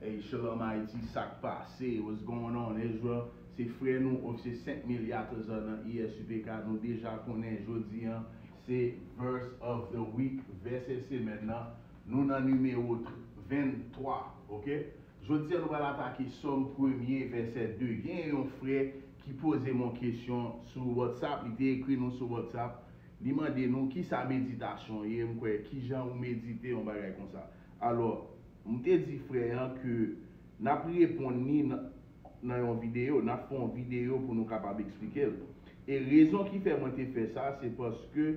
Hey shalom Haiti sak pase what's going on Israel se frè nou ok se 5 milya trezò nan ISUPK nou deja konnen jodi an se verse of the week vèsè semèn nan nou nan nimewo 23 ok jodi an nou pral atake sòm premye vèsè 2 gen yon frè ki pozem yon kesyon sou whatsapp li te ekri nou sou whatsapp li mande nou kisa meditasyon ye m kwè kijan ou medite yon bagay konsa. Alò, m te di frè an ke n ap reponn li nan yon videyo, n ap fè yon videyo pou nou kapab eksplike l. E rezon ki fè mwen te fè sa, se paske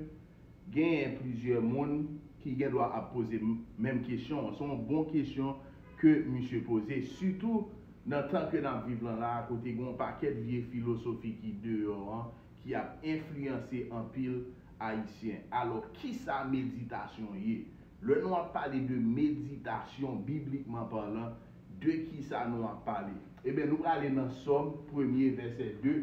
genyen plizyè moun ki gen dwa ap poze menm kesyon an. Se yon bon kesyon ke misye poze, sitou nan tan ke n ap viv lan la a, kote gen yon pakèt vye filosofi ki deyò an, ki ap enfliyanse anpil Ayisyen. Alò, kisa meditasyon ye? Lè nou ap pale de meditasyon, biblikman palan, de ki sa nou ap pale? Eben, nou prale nan Sòm premye, vèsè 2.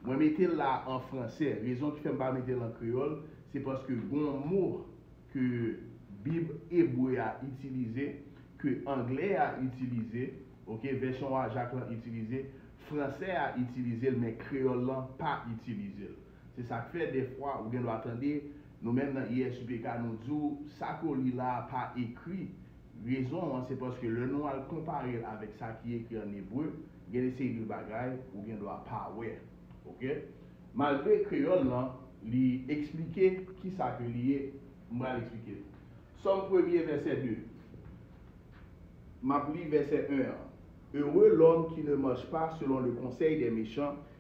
Mwen mete l la a an franse. Rezon ki fè m pa mete l an kreyòl, se paske gen yon mo ke Bib ebre a itilize, ke angle a itilize, oke, vèsyon Wajack lan itilize, franse a itilize l, men kreyòl lan pa itilize l. Se sa k fè dèfwa ou gendwa tande nou menm nan USPK nou di w sa ke w li la a pa ekri. Rezon an se paske lè nou al konpare l avèk sa ki ekri ann ebre, gen de seri de bagay ou gendwa pa wè. Oke? Malgre kreyòl lan li esplike ki sa ke li ye, m pral esplike l. Sòm premye vèsè 2. M ap li vèsè 1 an, Heureux l'homme qui ne marche pas selon le conseil des méchants,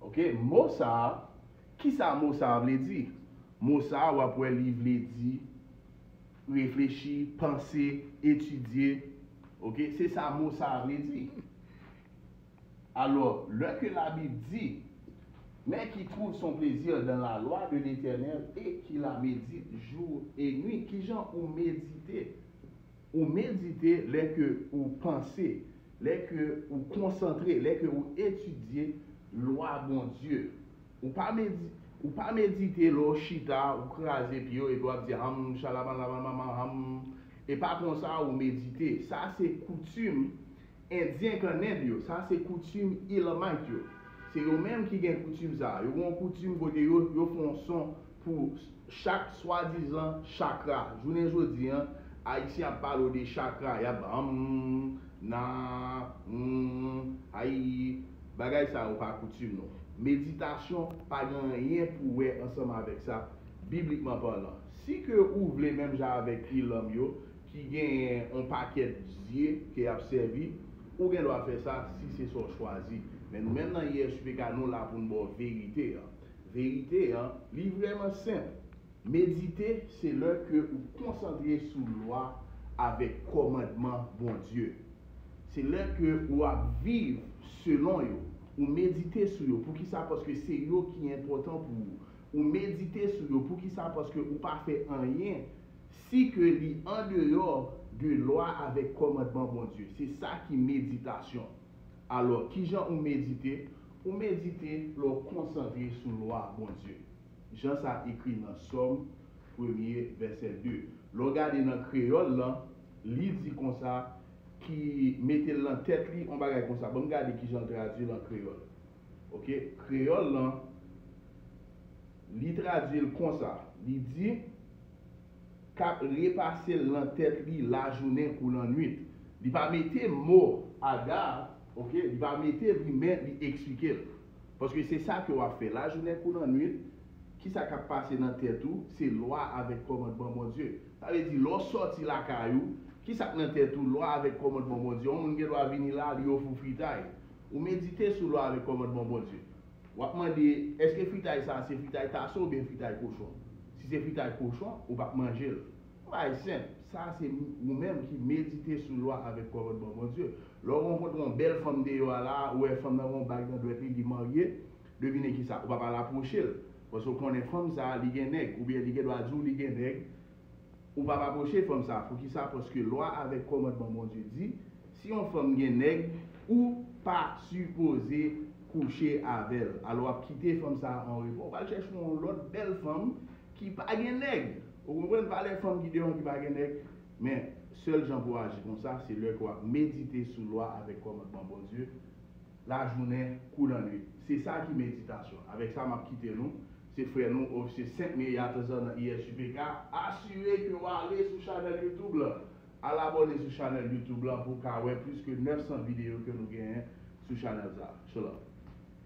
Ok mo sa a kisa mo sa a vle di mo sa a wap wè li vle di reflechi panse etidye ok se sa mo sa a vle di alò lè ke labib di men ki twouv son plezi dan la lwa de letènèl e ki la medit jou e nwit kijan ou medite. Ou medite lè ke ou panse, lè ke ou konsantre, lè ke ou etidye lwa Bondye. Ou pa medite, ou pa medite lè ou chita, ou kraze pye ou epi wap di ham shalabanlabamama ham. E pa konsa ou medite. Sa se koutim Endyen kannèb yo, sa se koutim Elamite yo. Se yo menm ki gen koutim sa a. Yo gen yon koutim kote yo, yo fè yon son pou chak swadizan chakra. Jounen jodi an, Ayisyen ap pale w de chakra, y ap humm, na, humm, ayii. Bagay sa yo pa koutim nou. Meditasyon pa gen anyen pou wè ansanm avèk sa, biblikman palan. Si ke ou vle menm jan avèk Elam yo, ki genyen on pakèt zye ke yap sèvi, ou gen dwa fè sa si se sa w chwazi. Men nou menm nan ISUPK nou la pou n ba w verite an. Verite an, li vrèman senp. Medite se lè ke ou konsantre sou lwa avèk kòmandman Bondye. Se lè ke ou ap viv selon yo. Ou medite sou yo. Poukisa? Paske se yo ki enpòtan pou ou. Ou medite sou yo. Poukisa? Paske ou pa fè anyen si ke li andeyò de lwa avèk kòmandman Bondye. Se sa ki meditasyon. Alò, kijan ou medite? Ou medite lè w konsantre sou lwa Bondye. Jan sa ekri nan Sòm premye, vèsè 2. Lè w gade nan kreyòl lan, li di konsa, ki mete l nan tèt li, yon bagay konsa. Ban m gade kijan l tradui l an kreyòl. Ok, kreyòl lan. Li tradui l konsa, li di, K ap repase l nan tèt li lajounen kou lannuit. Li pa mete mo aga a, ok, li pa mete li men li eksplike l. Paske se sa ke w ap fè lajounen kou lannuit, ki sa k ap pase nan tèt ou, se lwa avèk kòmandman Bondye. Sa vle di, lè w sòti lakay ou, ki sa k nan tèt ou? Lwa avèk kòmandman Bondye. Yon moun gen dwa vini la, li ofè w fritay. Ou medite sou lwa avèk kòmandman Bondye. W ap mande, Èske fritay sa a se fritay taso oubyen fritay kochon? Si se fritay kochon, ou pap manje l. Yon bagay senp, sa a se ou menm ki medite sou lwa avèk kòmandman Bondye. Lè w rankontre yon bèl fanm deyò a la a, ou wè fanm nan gen yon bag nan dwèt li, li marye, devine kisa, ou pap al apwoche l. Paske ou konnen fanm sa a, li gen nèg, oubyen li gendwa di w li gen nèg, Ou pap apwoche fanm sa a poukisa paske lwa avèk kòmandman Bondye di si yon fanm gen nèg ou pa sipoze kouche avèl alò wap kite fanm sa a an repo ou pral chèche yon lòt bèl fanm ki pa gen nèg ou konprann valè fanm ki deyò an ki pa gen nèg men sèl jan pou aji konsa se lè ke wap medite sou lwa avèk kòmandman Bondye lajounen kou lannuit se sa ki meditasyon avèk sa map kite nou Se frè nou, Ofisye Sent Meri Atazan nan ISUPK, asire ke w ale sou chanèl YouTube lan. Al abòne sou chanèl YouTube lan pou w ka wè plis ke 900 videyo ke nou genyen sou chanèl sa a. Shalom.